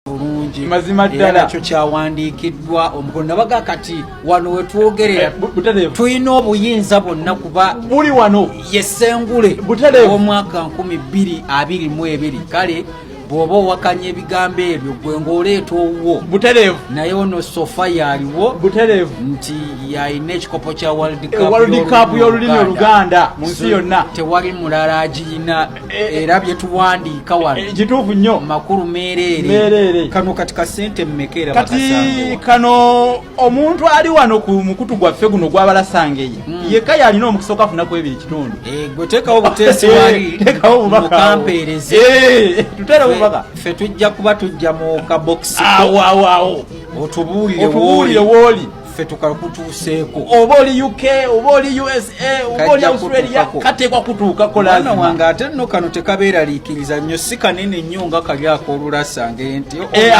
bulungi mazima ddala ekyo kyawandiikiddwa omukono nabaga kati wano wetwogerera eh, tulina obuyinza bwonna kuba buli wano yesengule omwaka 2222 kale bwoba owakanya ebigambo ebyo gwe ngaoleeta owuwo butereevu naye ono sofa yaliwo butereevu nti yalina ekikopo kya world cup eh, y'olulimi oluganda mu nsi yonna tewali mulala agiyina era byetuwandiika wano eh, kituufu nnyo makulu meereere kano kati kasente mumekera kati kano omuntu ali wano ku mukutu gwaffe guno gwabalasangeye hmm. yekka yalina omukisa okafuna ku ebiri kitundu eh, gwe teekawo buteesi eh, wali teekawo bubakampeereze tutere bubaka ffe tujja kuba tujja mu kabokisi awo awo awo otubuulire wooli ffe tukakutuuseeko oba oli uk oba oli usa oba oli australia kateekwa kutuuka kolaana wange ate nno kano tekabeeraliikiriza nnyo si kanene nnyo nga kali akoolulasa nge nti eh,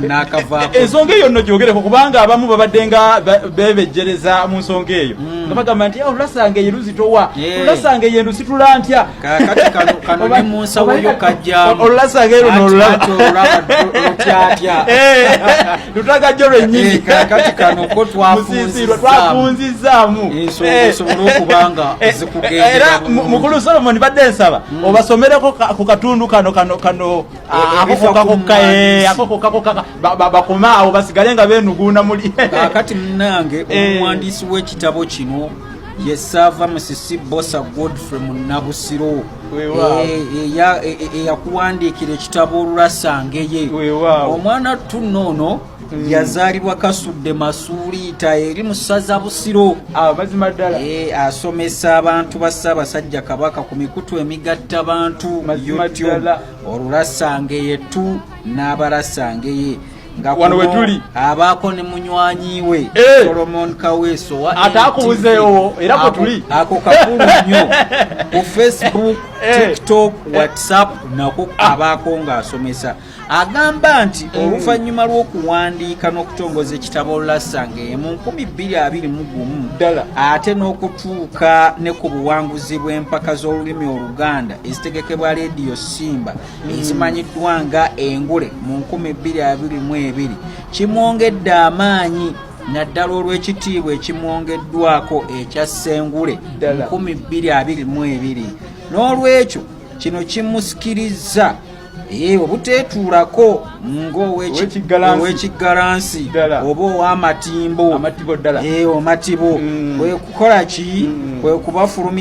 naakavaako ensonga eyo nno gyogereko kubanga abamu babadde nga bebejjereza mu nsonga eyo hmm. nga bagamba nti eh, olulasange ye luzitowa eh. olulasange ye ndusitula ntya kakati kano kano ne mu nsawo yo kajjamu olulasanga ero nolulatyatya lutaka jo lwennyini eh, kakati kano ko twafunzizzaamu ensonga eh, eh. esobola okuba nga zikugendera era mukulu solomoni badde nsaba hmm. obasomereko ku katundu kano kano kano ah, akokokakokakokakokaka bakome awo basigale nga benuguuna muli kakati munange omuwandiisi w'ekitabo kino yesaava musisi bosa godfrey munabusiro eyakuwandiikira ekitabo olurasangeye omwana tunno ono Mm. yazaalibwa kasudde masuuliita eri mu ssaza busiro amazima ah, ddala eh, asomesa abantu ba ssaabasajja kabaka ku mikutu emigatta bantu youtube olulasangeye tu n'abalasangeye nga wano wetuli abaako ne munywanyi we eh! Solomon Kaweso atakubuzeewo era kwe tuli ako kakulu nnyo ku Facebook eh! TikTok eh! WhatsApp nako ah! abaako ng'asomesa agamba nti hmm. oluvannyuma lw'okuwandiika n'okutongoza ekitabo Lasanga emu nkumi bbiri abiri mu gumu ate n'okutuuka ne ku buwanguzi bw'empaka z'olulimi Oluganda ezitegekebwa leediyo Simba ezimanyiddwa nga engule mu 222 kimwongedde amaanyi naddala olw'ekitiibwa ekimwongeddwako ekya ssengule 222 n'olwekyo kino kimusikirizza ee obuteetuulako ng'owekiggalansi oba ow'amatimbo omatibo mm. kwe kukola ki mm. kwe kubafulumi